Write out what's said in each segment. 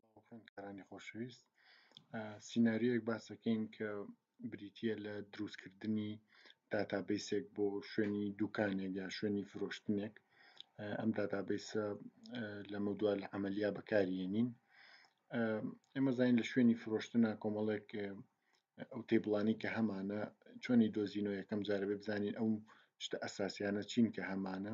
سڵاو خوێندکارانی خۆشەویست سیناریۆیەک باس دەکەین کە بریتە لە دروستکردنی داتابیسێک بۆ شوێنی دوکانێک یا شوێنی فرۆشتنێک ئەم داتابیسە لەمە دوا لە ئەمەلیا بەکارێنین ئێمە زانین لە شوێنی فرۆشتنە کۆمەڵێک ئەو تێبڵانی کە هەمانە چۆنی دۆزینەوە یەکەم جارەبێ بزانین ئەو شتە ئەساسیانە چین کە هەمانە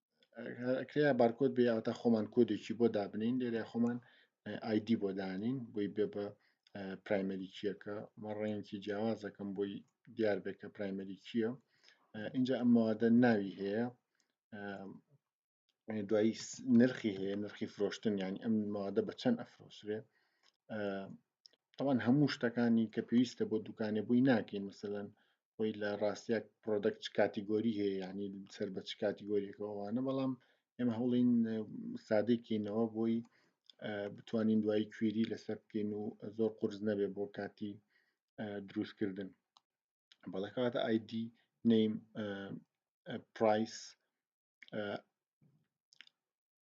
کرێ بارکۆد بێ ئەوتا خۆمان کۆدێکی بۆ دابنین لێرە خۆمان ئایدی بۆ دانین بۆی بێ بە پرایمەری چیەکە مە ڕێنکی جیاوازەکەم بۆی دیار بێت کە پرایمەری چییە اینجا ئەم مەوادە ناوی هەیە دوایی نرخی هەیە نرخی فرۆشتن یان ئەم مادە بە چەند ئەفرۆسرێ تاوان هەموو شتەکانی کە پێویستە بۆ دوکانێ بووی ناکەین مثلەن خۆی لە ڕاستیاک پرۆدەکت کاتیگۆری هەیە ینی سەر بە چ کاتیگۆریەکەوانە بەڵام ئێمە هەوڵین سادێکینەوە بۆی بتوانین دوای کوێری لەسەر بکەین و زۆر قرس نەبێ بۆ کاتی دروستکردن بەڵکاتە ئایدی نیم پرایس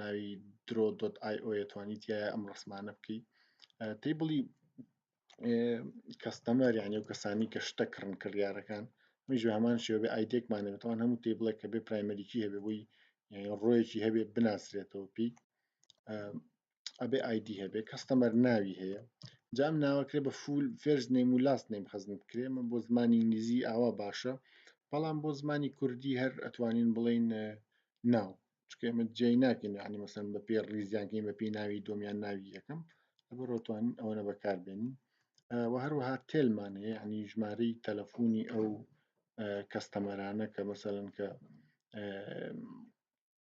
ناوی درۆ دۆت ئای ئۆە توانی تایە ئەم ڕسمانە بکەی تی بڵی کەستەمەر یعنی و کەسانی کە شتە کڕن کڕیارەکان میژ هەمان شێ بێ ئایدێکمانێتەوە هەموو تی بڵێ کە بێ پرایمەریکی هەبێ بۆی ڕۆیەکی هەبێت بناسرێتەوە پێی ئەبێ ئایدی هەبێ کەستەمەر ناوی هەیە جام ناوەکرێ بە فول فێرز نیم و لاست نیم خزم بکرێ من بۆ زمانی ئینگلیزی ئاوا باشە بەڵام بۆ زمانی کوردی هەر ئەتوانین بڵین ناو چکە ئمە جێی ناکەین عنی مەسەن بە پێ ڕیزیانکەین بە پێی ناوی دۆمیان ناوی یەکەم لەبەرۆتوانین ئەوەنە بەکاربێنین و هەروەها تێلمان هەیە عنی ژمارەی تەلەفۆنی ئەو کەستەمەرانە کە مەسەن کە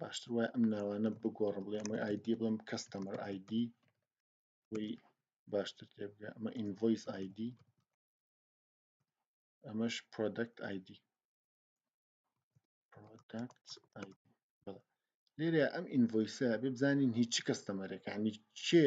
باشتر وایە ئەم ناوانە بگۆڕم بڵێ ئەمە ئایدی بڵم کەستەمەر ئایدی وی باشتر تێبگە ئەمە ئینڤۆیس ئایدی ئەمەش پرۆدەکت ئایدی پرۆدەکت ئایدی لێرە ئەم ئینڤۆیسە بێ بزانین هیچ کەستەمەرێکانی کێ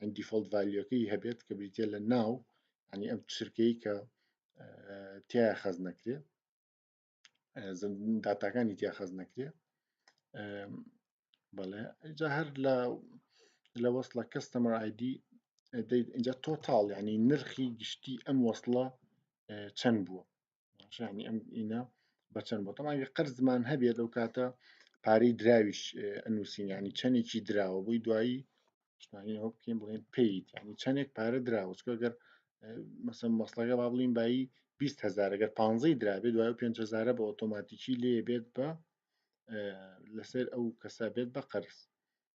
ئەم دیفۆڵت ڤالیوەکەی هەبێت کە بریتە لە ناو ینی ئەم چرکەی کە تیا خەز نەکرێ داتاکانی تیا خەز نەکرێ بەڵێ جا هەر لە لە وەصلە کەستەمەر ئایدی اینجا تۆتاڵ ینی نرخی گشتی ئەم وەصلە چەند بووە ڕژانی ئەم ئینە بەچەند بۆ تەماوی قەرزمان هەبێت لەو کاتە پارەی دراویش ئەنووسینیانی چەندێکی دراوە بۆی دوایی شتانەوە بکەین بڵێن پیت ینی چەندێک پارە دراوە چکەگەر مەسم مەسلەکە با بڵین بایی 20 هزار گەر 15 درابێ دوای 5 هزارە بە ئۆتۆماتیکی لێ بێت بە لەسەر ئەو کەسە بێت بە قەرز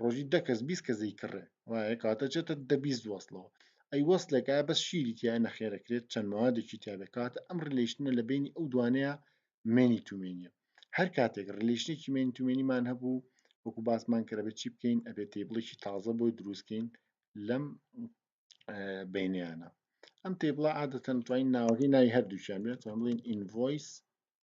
ڕۆژی دە کەس بیست کەس دەیکڕێ وایە کاتە چێتە دە بیست وەسڵەوە ئەی وەسلێکە بەس شیری تیا نەخێرەکرێت چەند موادێکی تیا بکات ئەم ڕلیشنە لە بینی ئەو دوانەیە مێنی تومێنیە هەر کاتێک ڕلیشنێکی مێنی تومێنیمان هەبوو وەکو باسمان کە بە چی بکەین ئەبێ تیبڵێکی تازە بۆی دروستکەین لەم بینیانە ئەم تیبڵە عادەتەن توانین ناوەکەی ناوی هەردووچیان بێت بڵین ئینڤۆیس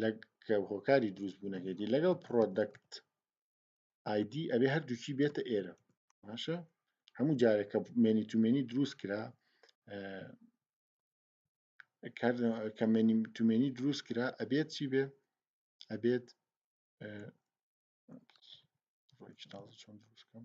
لە کە هۆکاری دروست بوونەکەیتی لەگەڵ پرۆدەکت ئایدی ئەبێ هەردووکی بێتە ئێرە باشە هەموو جارێک کە مێنی تومێنی دروست کرا کە مێنی تومێنی دروست کرا ئەبێت چی بێ ئەبێت چۆن دروستکەم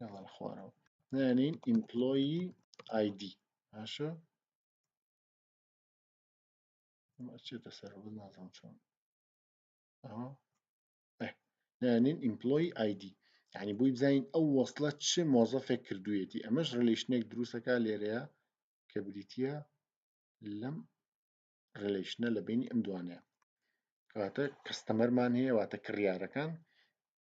یاڵن خوارەوە نانین ئیمپلۆیی ئایدی باشە چێتە سەر بە نازم چۆن نانین ئیمپلۆی ئایدی یعنی بووی بزانین ئەو وەصلە چ مۆزەفێک کردوویەتی ئەمەش ڕلیشنێک دروستەکە لێرەیە کە بریتە لەم ڕلیشنە لە بینی ئەم دوانەیە کەواتە کەستەمەرمان هەیە واتە کڕیارەکان